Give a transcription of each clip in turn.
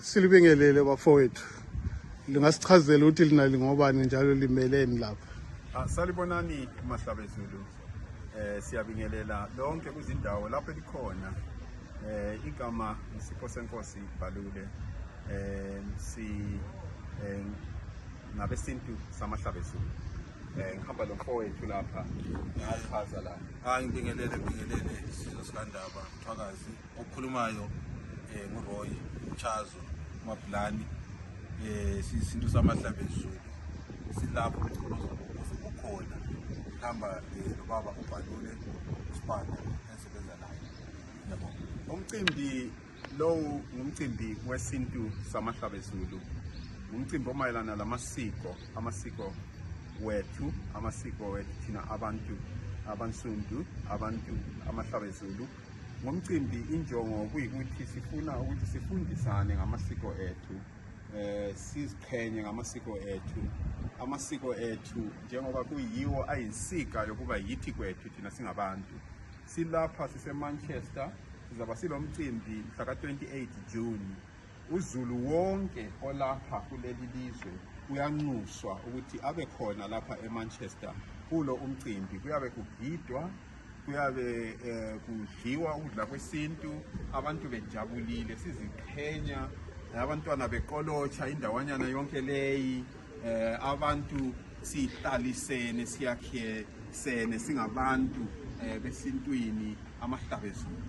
silibingelele bafowethu lingasichazela ukuthi lina lingobani njalo limeleni lapha ah, salibonani mahlabezulu eh siyabingelela lonke kuzindawo lapho elikhona eh igama isipho senkosi ibhalule eh si eh, ngabesintu samahlabezulu eh ngihamba lo mfowethu lapha ngachaza la angibingelele ah, bingelele sizosandaba phakazi okhulumayo eh, nguroy chazo mabhulani um eh, siyisintu samadlabezulu silapho umgqolozo ukhona kuhamba um eh, lobaba ubhalule usibanda ensebenza naye yabo umcimbi lowu ngumcimbi wesintu samahlabezulu ngumcimbi omayelana lamasiko amasiko wethu amasiko wethu thina abantu abansundu abantu amahlabezulu Ngomcimbi injongo kuyikuthi sifuna ukuthi sifundisane ngamasiko ethu eh siziqhenye ngamasiko ethu amasiko ethu njengoba kuyiwo ayinsika yokuba yithi kwethu thina singabantu silapha sisemanchester sizaba silomcimbi mhla ka-28 june uzulu wonke olapha kuleli lizwe uyanxuswa ukuthi abe khona lapha emanchester kulo umcimbi kuyabe kugidwa kuyabe eh, kudliwa ukudla kwesintu abantu bejabulile siziqhenya abantwana beqolotsha indawanyana yonke leyi eh, abantu sihlalisene siyakhesene singabantu eh, besintwini amahlabezulu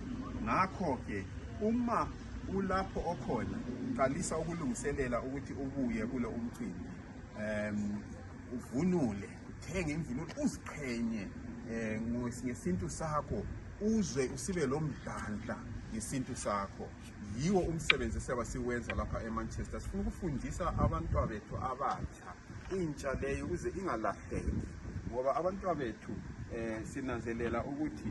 ngakho-ke uma ulapho okhona qalisa ukulungiselela ukuthi ubuye kulo umcimbi um uvunule uthenge imvunulo uziqhenye um ngesintu sakho uzwe usibe lo mdlandla ngesintu sakho yiwo umsebenzi esiyaba siwenza lapha emanchester sifuna ukufundisa abantwa bethu abatsha intsha leyo ukuze ingalahleki ngoba abantwa bethu um sinanzelela ukuthi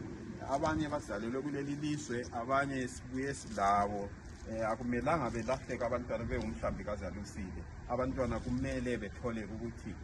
abanye bazalelwe kuleli lizwe abanye sibuye silabo eh akumelanga belahleka abantwana bewumhlambi kazalusile abantwana kumele bethole ukuthi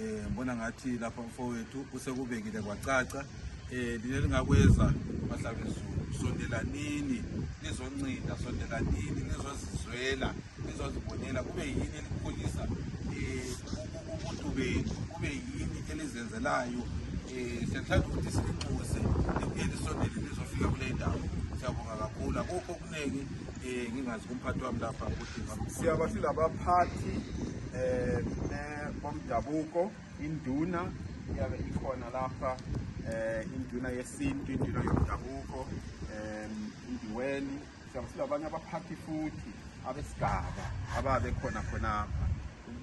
Eh ngibona ngathi lapha mfowethu usekubekile kwacaca eh lina lingakwenza bahlabezulu sondelanini nizoncida sondelanini nizozizwela nizozibonela kube yini elikhulisa eh umuntu benu kube yini elizenzelayo eh siyathanda ukuthi sinixuse libuye lisondele lizofika kule ndawo siyabonga kakhulu akukho okuningi Eh, ngingazi kumphathi wami lapha ukuthi siyaba silabaphathi eh bomdabuko induna iyabe ikhona lapha eh induna yesintu induna yomdabuko eh indiweni siyaba silabanye abaphathi futhi abesigaba ababe khona khonapha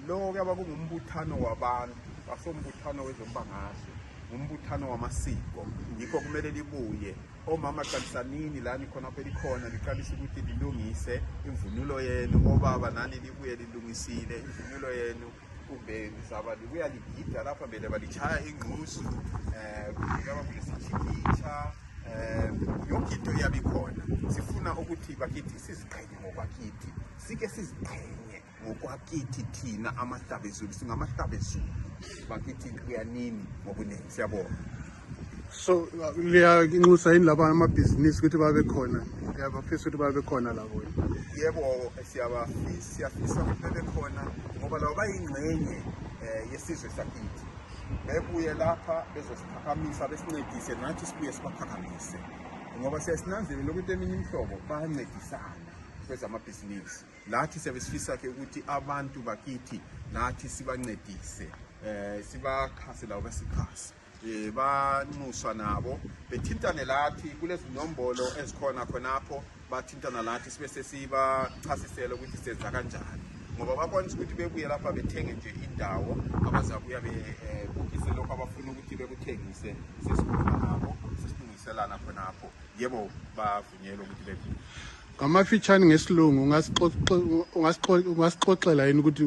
lo kuyaba kungumbuthano wabantu basombuthano wezombangazwe umbuthano wamasiko yikho kumele libuye omama qalisanini la nikhona pelikhona liqalisa ukuthi lilungise imvunulo yenu obaba nani libuye lilungisile imvunulo yenu kumbe lizaba libuya ligida lapha mbele balitshaya ingqusu um eh, kungaba kulesijikitsha um eh, yonke into iyabe ikhona sifuna ukuthi bakithi siziqhenye ngokwakithi sike siziqhenye ngokwakithi thina amahlaba ezulu singamahlaba ezulu bakithi kuyanini ngobuningi siyabona so liyanxusa yini laba amabhizinisi ukuthi babe khona uyabafisa ukuthi babe khona labo yebo siyabafisa siyafisa ukuthi bebe khona ngoba labo bayingxenye um yesizwe sakithi bebuye lapha bezosiphakamisa besincedise nathi sibuye sibaphakamise ngoba siyasinanzelela ukuthi eminye imihlobo bayancedisana kwezamabhizinisi lathi siyabe sifisa ke ukuthi abantu bakithi lathi sibancedise eh sibakhase lawo besikhasi eh banxuswa nabo bethintane lathi kulezinombolo ezikhona khonapho bathintana lathi sibe sesibachasisela ukuthi senza kanjani ngoba bakwanisa ukuthi bebuye lapha bethenge nje indawo abazabuya bebukise eh, lokho abafuna ukuthi bekuthengise sesikhuluma nabo sesilungiselana khonapho yebo ngamafitshane ngesilungu ungasixoxela yini ukuthi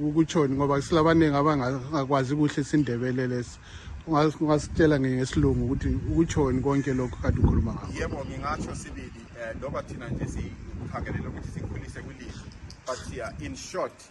ukutshoni ngoba silabaningi abangakwazi kuhle isindebele lesi ungasitshela ngesilungu ukuthi ukutshoni konke lokhu kade ukhuluma ngakho yebo ngingatsho sibili um eh, loba thina nje sikhangelele ukuthi sikhulise kwilizwe but siya in short